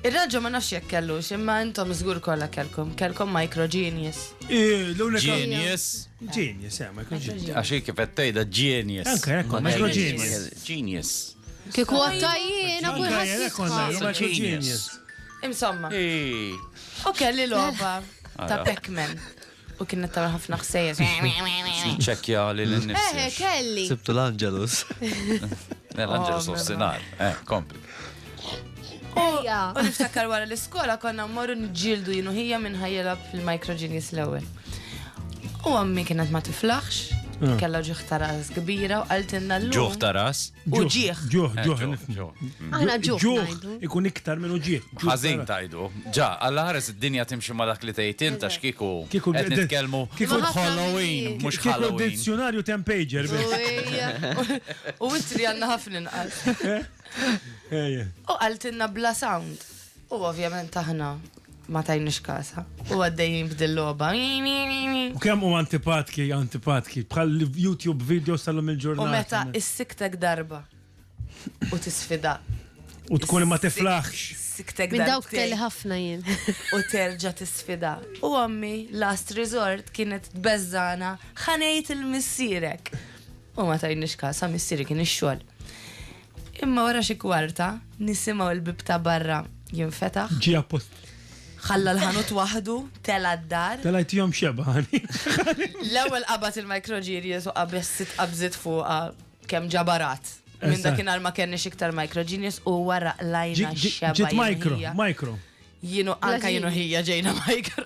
Ir-raġel ma nafx jekk kellux, imma intom żgur kollha kellkom, kellkom micro genius. Genius. Genius, eh, micro genius. Għax kif qed tgħidha genius. Anke hekk, micro genius. Genius. Kieku għattajjien, għabu jħassisħa. Insomma. U kelli loba ta' Pac-Man. U kienet tagħmel ħafna ħsejjes. Niċċekkja lil innifsi. Eħe, kelli. Sibtu l-Angelus. L-Angelus oh, nofsinhar. Eh, kompli. Ejja. U niftakar wara l-iskola konna mmorru nġildu jinu ħija minn ħajjela fil-Micro Genius l-ewwel. U għammi kienet ma tiflaħx, ah. kella ġuħ taras kbira u għaltinna l-lum. Ġuħ taras? U ġieħ. Ġuħ, eh, ġuħ, nifmu. Aħna ġuħ. Ġuħ ikun iktar minn uġieħ. Ħażin tajdu. Ġa, għalla ħares id-dinja timxi ma dak li tgħid int għax kieku qed nitkellmu kieku Halloween mhux Halloween. Kieku dizzjonarju tempager. U witri għandna ħafna inqas. U qaltilna bla sound. U ovvjament aħna ma tajniex kasha u għaddejjin b'dil-logħba. U kemm hu antipatki, antipatki, bħall-YouTube videos tal-lum il-ġurnata. U meta issiktek darba u tisfidak. U tkun ma tiflaħx. Siktek darba. Minn dawk kelli ħafna jien. U terġa' tisfida. U ommi, last resort, kienet tbeżżana ħanejt il-missierek. U ma tajniex kasha, missieri kien ix-xogħol. Imma wara xi kwarta, nisimgħu l-bieb ta' barra jinfetaħ. Ġie apposta. Ħalla l-ħanut waħdu, tela' d-dar. Telajthom xebgħan. L-ewwel qabad il-microgenius u qabeż sitt qabżiet fuqha kemm ġabarat. Minn dakinhar ma kellniex iktar microgenius u wara qlajna x-xebgħa. Ġiet micro, micro. Jien u anke jien u ħija ġejna micro.